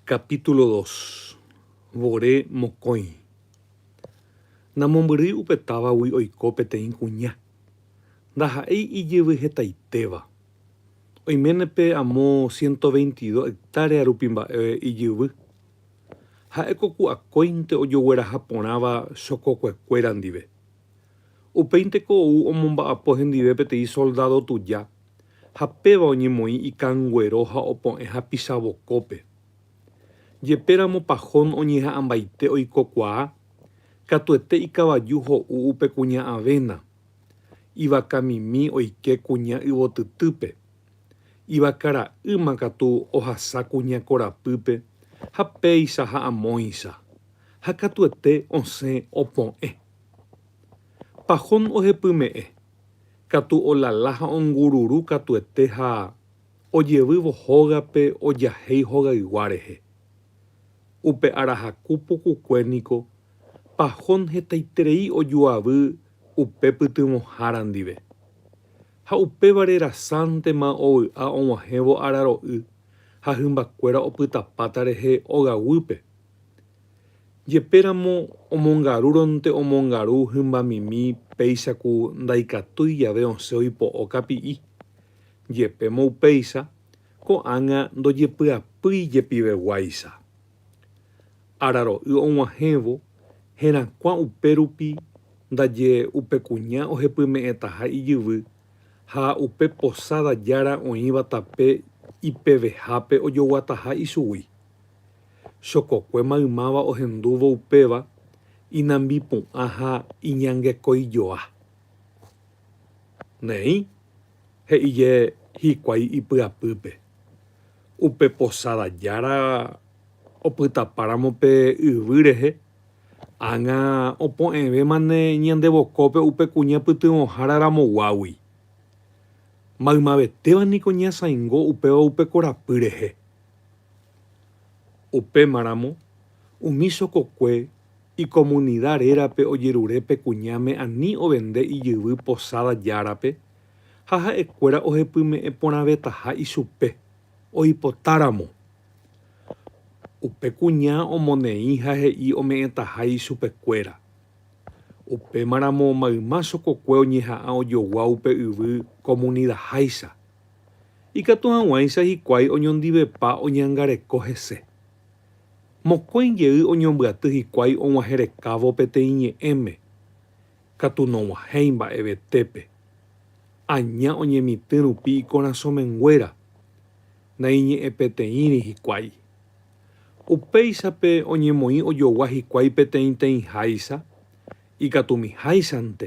Capítulo dos. Vore mokõi. Namombyry upe távagui oiko peteĩ kuña. Ndaha'éi ijyvy hetaitéva. Oiméne pe amo ciento veintidós hectárea rupi mba'e ijyvy. Ha'éko ku akóinte ojogueraha porãva chokokuekuéra ndive. Upéinte ko ou omomba'apo hendive peteĩ soldado tuja ha péva oñemoĩ ikanguero ha opo'ẽ hapicha vokópe. Jepéramo Pajón oñeha'ãmbaite oikokuaa, katuete ikavaju ho'u upe kuña avena, ivakamimi oike kuña yvotytýpe, ivaka ra'ýma katu ohasa kuña korapýpe ha péicha ha amóicha, ha katuete osẽ opo'ẽ. Pajón ohepyme'ẽ, Katu olala ha ongururu katuete ha ojevývo hógape ojahéi hogaygua rehe. Upe arahaku pukukue niko pahón hetaiterei ojuavy upe pytyvõhára ndive. Ha upévare rasántema ovy'a og̃uahẽvo araro'y ha hymbakuéra opytapáta rehe ogaguýpe, Jepéramo omongarúronte omongaru hymbamimi péicha ku ndaikatúi jave osẽ oipo'o kapi'i. Jepémo upéicha, ko'ág̃a ndojepy'apýi jepiveguáicha. Araro'y og̃uahẽvo herakuã upérupi ndaje upe kuña ohepyme'ẽtaha ijyvy ha upe posáda jára oĩva tape ipevehápe ojoguataha ichugui. chokokue maymáva ohendúvo upéva inambipu'ã ha iñangekoijoa. Neĩ, he'ije hikuái ipyapýpe, upe posada jára opytapáramo pe yvy rehe, ág̃a opu'ẽvémane ñande vokópe upe kuña pytyvõhára ramoguágui. Maymavetéva niko ñasãingo upéva upe korapy rehe. Upémaramo, umi chokokue ikomunida rérape ojerure pe kuñáme ani ovende ijyvy Posada Járape ha ha'ekuéra ohepyme'ẽ porãvetaha ichupe, oipotáramo. Upe kuña omoneĩ ha he'i ome'ẽtaha ichupekuéra. Upémaramo mayma chokokue oñeha'ã ojogua upe yvy komunidaháicha. Ikatu hag̃uáicha hikuái oñondivepa oñangareko hese. Mokõi jey oñombyaty hikuái og̃uahẽrekávo peteĩ ñe'ẽme, katu nog̃uahẽi mba'evetépe. Aña oñemitỹ rupi ikorasõ menguéra, naiñe'ẽpeteĩri hikuái. Upéichape oñemoĩ ojogua hikuái peteĩteĩháicha, ikatumiháichante.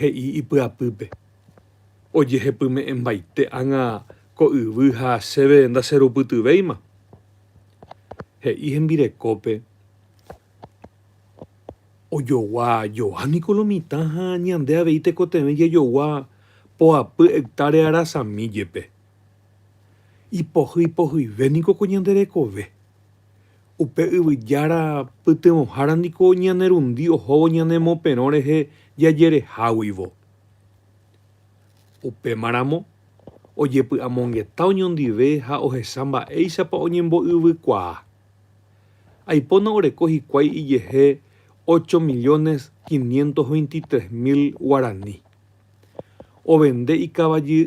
he'i ipyapýpe, Ojehepyme'ẽmbaite ág̃a ko yvy ha chéve ndacherupytyvéima. He'i hembirekópe, Ojogua joa niko lo mitã ha ñande avei tekotevẽ jajogua poapy hectárea arasami jepe. Ipohyipohyive niko ko ñande rekove. Upe Yvyjára pytyvõhára niko ñane rundi ohóvo ñane moperõ rehe jajereháguivo. Upémaramo, ojepy'amongeta oñondive ha ohecha mba'éichapa oñembo'yvykuaa. Aipóna oreko hikuái ijehe ocho millones quinientos veintitrés mil guarani. Ovende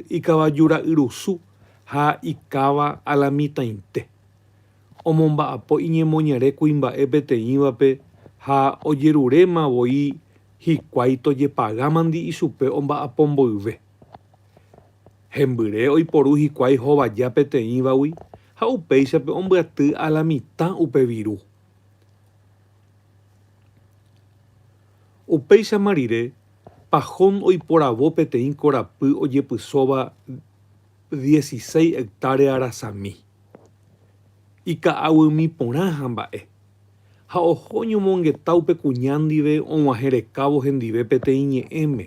ikavajura'yrusu ha ikáva alamitãite. omomba'apo iñemoñare kuimba'e peteĩvape ha ojeruréma voi hikuái tojepagámandi ichupe omba'apo mboyve. Hembyre oiporu hikuái hovaja peteĩvagui ha upéichape ombyaty a la mitã upe viru. Upéichama rire, Pajón oiporavo peteĩ korapy ojepysóva dieciséis hectárea rasami. ika'aguými porã hamba'e, ha oho oñomongeta upe kuña ndive og̃uahẽrekávo hendive peteĩ ñe'ẽme.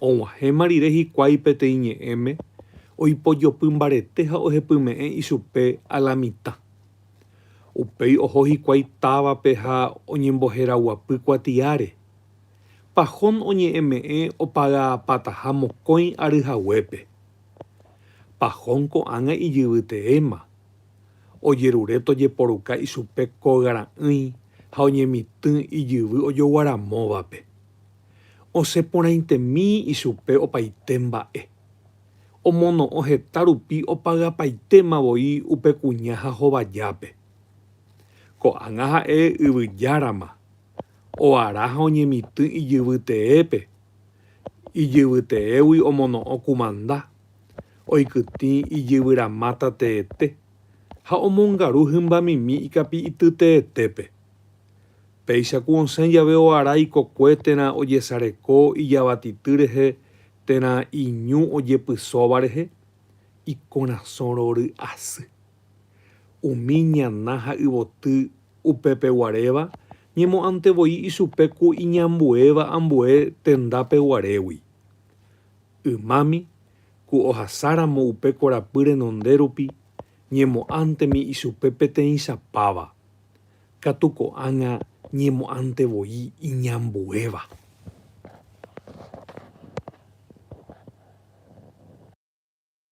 Og̃uahẽma rire hikuái peteĩ ñe'ẽme, oipojopy mbarete ha ohepyme'ẽ ichupe alamitã. Upéi oho hikuái távape ha oñemboheraguapy kuatiáre. Pahón oñe'ẽme'ẽ opagaapataha mokõi ary haguépe. Pahón ko'ág̃a ijyvyteéma, ojerure tojeporuka ichupe kogara'ỹi ha oñemitỹ ijyvy ojoguaramóvape. Osẽ porãitemi ichupe opaite mba'e. Omono'õ heta rupi opagapaitéma voi upe kuña ha hovajápe. Ko'ág̃a ha'e Yvyjárama, oara ha oñemitỹ ijyvyteépe Ijyvyteégui omono'õ kumanda, oikytĩ ijyvyrãmáta teete ha omongaru hymbamimi ikapi'ity teetépe. Péicha ku osẽ jave oara ikokue térã ojesareko ijavatity rehe térã iñu ojepysóva rehe, ikorasõ rory'asy. Umi ñana ha yvoty upepeguaréva ñemo'ãnte voi ichupe ku iñambuéva ambue tendápe guarégui. Ymámi, ku ohasáramo upe korapy renonde rupi, ñemo'ãntemi ichupe peteĩcha páva, katu ko'ág̃a ñemo'ãnte voi iñambuéva.